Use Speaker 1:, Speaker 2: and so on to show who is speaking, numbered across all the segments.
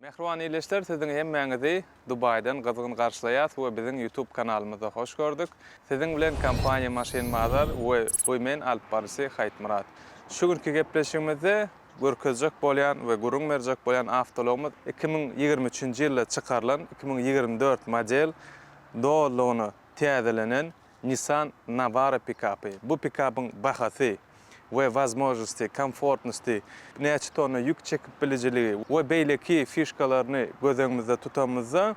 Speaker 1: Mähriban ildeşler siziň hemmäňizi Dubaýdan gyzgyn garşylaýas we biziň YouTube kanalymyza hoş gördük. Siziň bilen kompaniýa Maşyn Bazar we Women alyp baryjysy Haýtmyrat. Şu günki gepleşigimizde görkezjek bolýan we gürrüň berjek bolýan awtoulagymyz iki müň ýigrimi üçünji ýylda çykarylan iki müň ýigrimi dört model dolulygyna täzelenen Nissan Navara pikapy. Bu pikapyň bahasy we wazmoznosti, komfortnosti, näçe tonna ýük çekip bilijiligi we beýleki fişkalaryny göz öňümizde tutanymyzda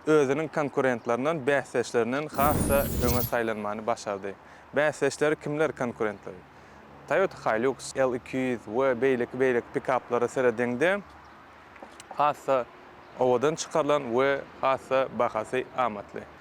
Speaker 1: özüniň konkurentlerinden, bäsdeşlerinden has-da öňe saýlanmany başardy. Bäsdeşleri kimler konkurentleri? Toyota Hilux, L iki ýüz we beýleki beýleki pikaplara serediňde has-da owadan çykarylan we has-da bahasy amatly.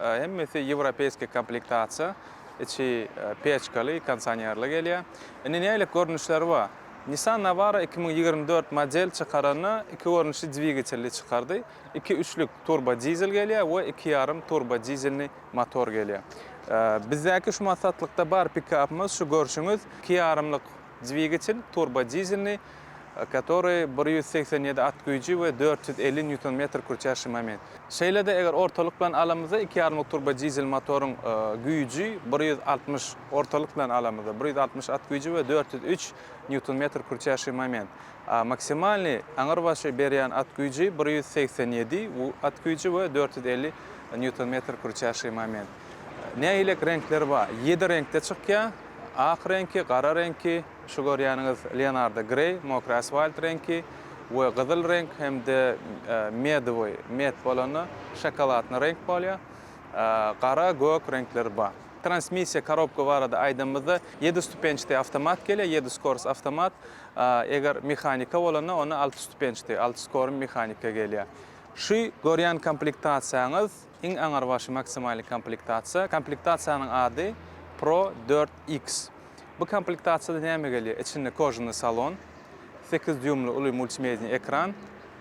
Speaker 1: Hemmesi ýewropeýskiý komplektasiýa, içi peçkaly, kondisionerli gelýär. Indi nähili görnüşleri bar? Nissan Navara iki müň ýigrimi dört model çykaranda iki görnüşli dwigatelli çykardy. Iki üçlük turbo dizel gelýär we iki ýarym turbo dizelni motor gelýär. Bizdäki şu massatlykda bar pikapymyz şu görşüňiz iki ýarymlyk Dwigatel turbodizelni, katory bir ýüz segsen ýedi at güýji we dört ýüz elli nýuton-metr kürçär şu moment. Şeýle-de eger ortalyk bilen alamyzda iki ýarymlyk turbodizel motoryň güýji bir ýüz altmyş, ortalyk bilen alamyzda, bir ýüz altmyş at güýji we dört ýüz üç nýuton-metr kürçär şu moment. Maksimalny, aňyrbaşy, berýän at güýji bir ýüz segsen ýedi at güýji we dört ýüz elli nýuton-metr kürçär şu moment. Nähilek reňkler bar? Ýedi reňkde çykýar. Ak reňki, gara reňki, şu görýäniňiz Leonardo Grey, mokry asfalt reňki we gyzyl reňk hem-de medowy, med bolanda şokoladny reňk bolýar. Gara, gök reňkleri bar. Transmissiýa, korobka barada aýdanymyzda, ýedi stupençdi awtomat gelýär, ýedi skors awtomat. Eger mehanika bolanda, onda alty stupençdi, alty skorn mehanika gelýär. Şu görýän komplektasiýaňyz Iň aňrybaşy maksimalny komplektasiýa. Komplektasiýanyň ady Pro dört X. Bu komplektasiýada näme gelýär? Içinde kožunyý salon, sekiz dýuýmly uly multimediýa ekran,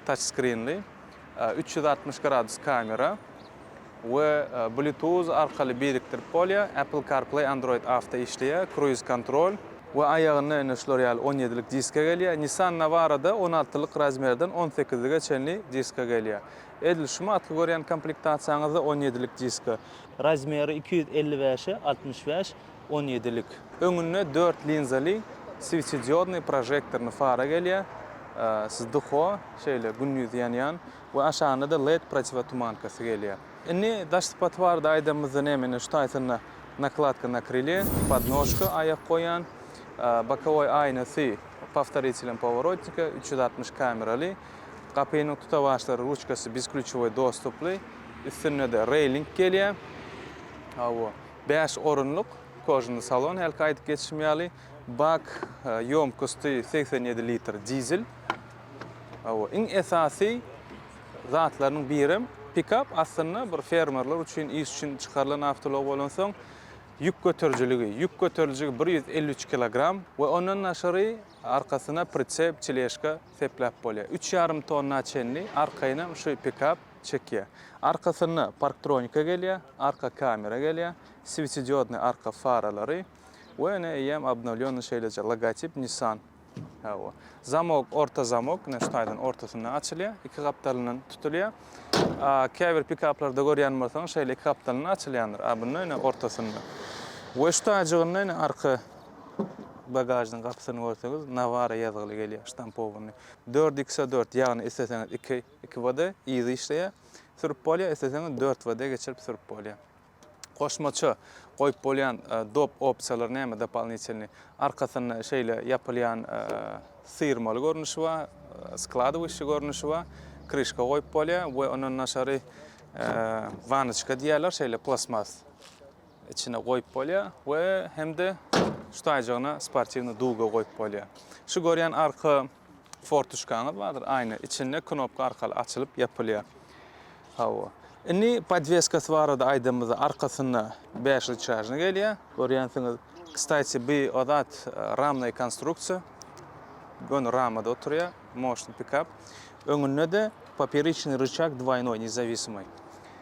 Speaker 1: taçskrinli, üç ýüz altmyş gradus kamera we bluetooth arkaly birikdirip bolýar, Apple CarPlay, Android Auto işleýär, kruiz kontrol. We aýagynda ine şular ýaly on ýedilik diska gelýär. Nissan Navara-da on altylyk razmerden on sekizlige çenli diska gelýär. Edil şu matky görýän komplektasiýaňyzda on ýedilik diska. Razmeri iki ýüz elli bäşe altmyş bäş on ýedilik. Öňünde dört linzaly switediodnyý prožektorny fara gelýär, siz dko şeýle gündiz ýanýan we aşagynda-da led protiwotumankasy gelýär. Indi daş sypaty barada aýdanymyzda näme indi şu taýtynda nakladka na krylýe, podnožka aýak goýan, bokowoý aýnasy powtoritelem poworotnika, üç ýüz altmyş kameraly. Gapynyň tutawaçlary, ruçkasy bezklýuçowy dostuply. Üstünde-de reýling gelýär. Hawa, bäş orunlyk kožuny salon, hälki aýdyp geçişim ýaly. Bak ýomkosty segsen ýedi litr dizel. Hawa, iň esasy zatlarynyň birem pikap aslynda bir fermerler üçin, iş üçin çykarylan awtoulag bolansoň, ýük göterijiligi, ýük göteriljigi bir ýüz elli üç kilogram we ondan daşary arkasyna pritsep, çeležka, sepläp bolýar. Üç ýarym tonna çenli arkaýynam şu pikap çekýär. Arkasynda parktronika gelýär, arka kamera gelýär, swetsidiodnyý arka faralary we ine eýýäm obnowlýonnyý şeýleje logotip Nissan. Hawa. Zamok, orta zamok, ine şu taýdan ortasyndan açylýar, iki gapdalyndan tutulýar. A käbir pikaplarda görýän bolsaňyz şeýle iki gapdalyndan açylýandyr. A bunda ine ortasyndan. We şu taýjygynda ine arka bagažnyň gapysyny görseňiz, Navara ýazgyly gelýär, ştampowanyý. Dört ikse dört, ýagny isleseňiz iki, iki WD yzy işleýär, sürüp bolýar, isleseňiz dört WD geçirip sürüp bolýar. Goşmaça goýup bolýan dop opsiýalary näme, dopolinitelnyý? Arkasynda şeýle ýapylýan syrmaly görnüşi bar, skladowyşçy görnüşi bar, kryşka goýup bolýar we ondan daşary wanyçka diýýärler, şeýle plastmas. içine goýup bolýar we hem-de şu taýjygyna sportiwnyý duga goýup bolýar. Şu görýän arka fortuşkaňyz bardyr, aýna, içinde knopka arkaly açylyp ýapylýar. Hawa. Indi podweskasy barada aýdanymyzda arkasynda bäş ryçajny gelýär. Görýänsiňiz. Kstaýti bi o zat ramnaý konstruksiýa. Göni ramada oturýar, moşny pikap. Öňünde-de poperiçniý ryçag dwaýnoý, nezawisimaý.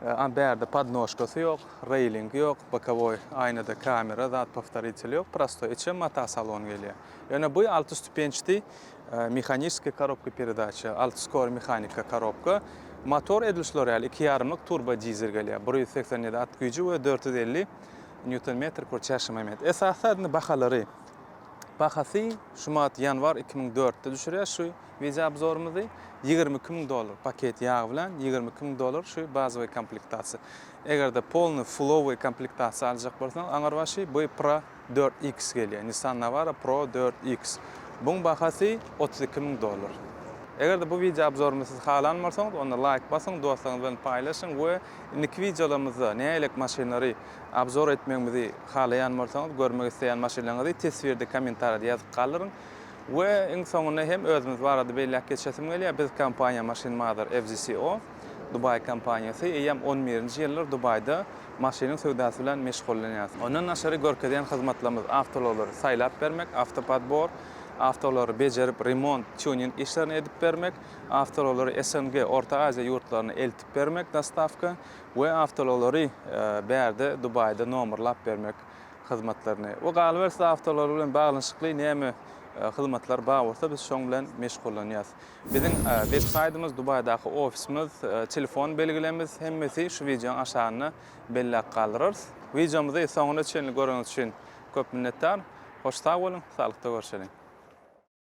Speaker 1: A bärde podnožkasy ýok, reýlingi ýok, bokowoý aýnada kamera, zat powtoritel ýok, prostoý içe mata salon gelýär. Ýöne bu alty stupençdi mehaniskiý korobka peredaça, alty skor mehanika korobka, motor edil şular ýaly iki ýarymlyk turbo dizel gelýär, bir ýüz segsen ýedi at güýji we dört ýüz elli nýuton metr kür çäşme moment. Esasy zat indi bahalary. Bahasy şu mat ýanwar iki müň dörtde düşürýär şu. Wideoobzorymyzy ýigrimi iki müň dollar paket ýag bilen ýigrimi iki müň dollar şu bazowy komplektasiýa. Egerde polny fullowy komplektasiýa aljak bolsaň aňyrbaşy bu pro dört iks gelýär Nissan Navara pro dört iks buň bahasy otuz iki müň dollar. Egerde bu wideoobzorymy siz halan bolsaňyz onda laýk basyň dostlaryňyz bilen paýlaşyň we indiki wideolarymyzda nälelik maşynlary obzor etmegimizi halaýan bolsaňyz görmek isleýän maşynlaryňyzy teswirde kommentariýada ýazyp galdyryň. We iň soňunda hem özümiz barada belläp geçesim gelýär. Biz kompaniýa Machine Mother FZCO, Dubaý kompaniýasy, eýýäm on birinji ýyldyr Dubaýda maşynyň söwdasy bilen meşgullanýarys. Ondan daşary görkezýän hyzmatlarymyz awtoullaglary saýlap bermek, awtopodbor, awtoullaglary bejerip, remont, tuning işlerini edip bermek, awtoullaglary SNG, Orta Aziýa ýurtlaryna eltip bermek, dostawka, we awtoullaglary bärde Dubaýda nomerlap bermek. hyzmatlaryny we galyberse-de awtoulag bilen baglanyşykly näme hyzmatlar bar bolsa biz şoň bilen meşgullanýas. Biziň web saýtymyz, Dubaýdaky ofisimiz, telefon belgilerimiz hemmesi şu wideoň aşagynda belläp galdyrarys. Wideomyzy soňuna çenli göreniňiz üçin köp minnetdar. Hoş sag boluň, saglykda görşeliň.